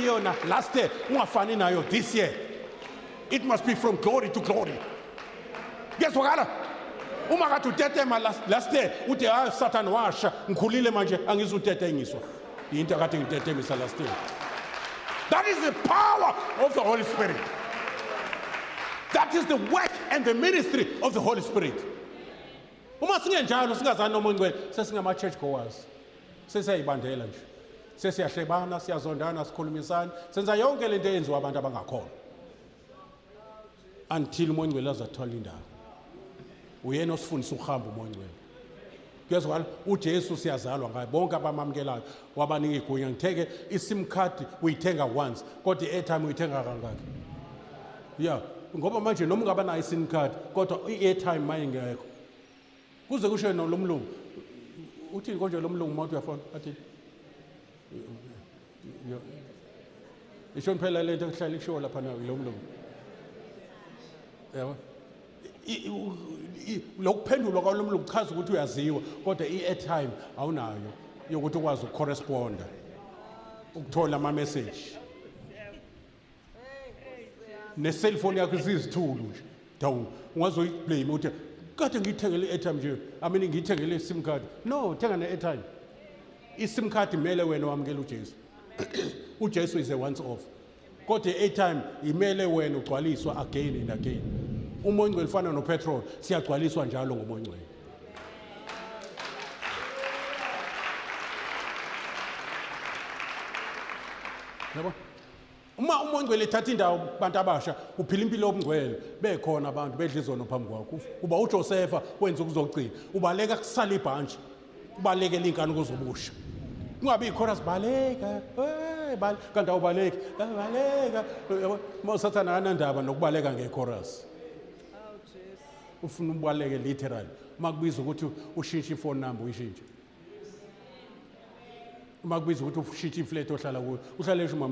yona last year ungafani nayo this year it must be from glory to glory kuyezwakala uma kade utetema last, last year ude hayi ah, satan washa ngikhulile manje angizutetenyiswa yinto akade ngitetemisa last year that is the power of the holy spirit that is the work and the ministry of the holy spirit uma singenjalo singazani noma ongcwele sesingama-church goers sesiyayibandela nje sesiyahlebana siyazondana sikhulumisana senza yonke lento eyenziwa abantu abangakhona until umongcwele azathola indawo uyena osifundisa ukuhamba umongcwele kuyezwakala ujesu siyazalwa ngaye bonke abamamukelayo wabanika igunya ngitheke isim card uyithenga once kodwa i-airtime uyithenga kangaki ya ngoba manje noma ungabanayo isim card kodwa i-airtime mayingekho kuze kusho yena lo mlungu uthini konje lo mlungu uma uthi uyafona athini ishoni phela le nto kuhlala ikushiwo lapha nayo lo mlungu yabo lokuphendulwa kwalo mlungu kuchaza ukuthi uyaziwa kodwa i-airtime awunayo yokuthi ukwazi ukucorresponda ukuthola ama-message ne-cellphone yakho isizithulu nje dawu ungazoyiblame uthi kade ngiyithengele i-airtime nje amini ngiyithengele i-sim card no thenga ne-airtime i-sim card imele wena wamukela ujesu ujesu is a once off kodwa i-airtime imele wena ugcwaliswa again and again umoya ongcwele fana nopetrol siyagcwaliswa njalo ngomoya ongcwele yabo uma uma ongcwele ethatha indawo kubantu abasha uphila impilo yobungcwele bekhona abantu bedla izono phambi kwakho uba uJosefa wenza ukuzogcina ubaleka kusala ibhantshi ubaleke linkani kuzobusha kungabe ikhona sibaleka hey bal kanti awubaleki baleka usathana anandaba nokubaleka ngechorus ufuna ubaleke literally makubiza ukuthi ushintshe ifone number uyishintshe makubiza ukuthi ushintshe iflat ohlala kuyo uhlale esho mama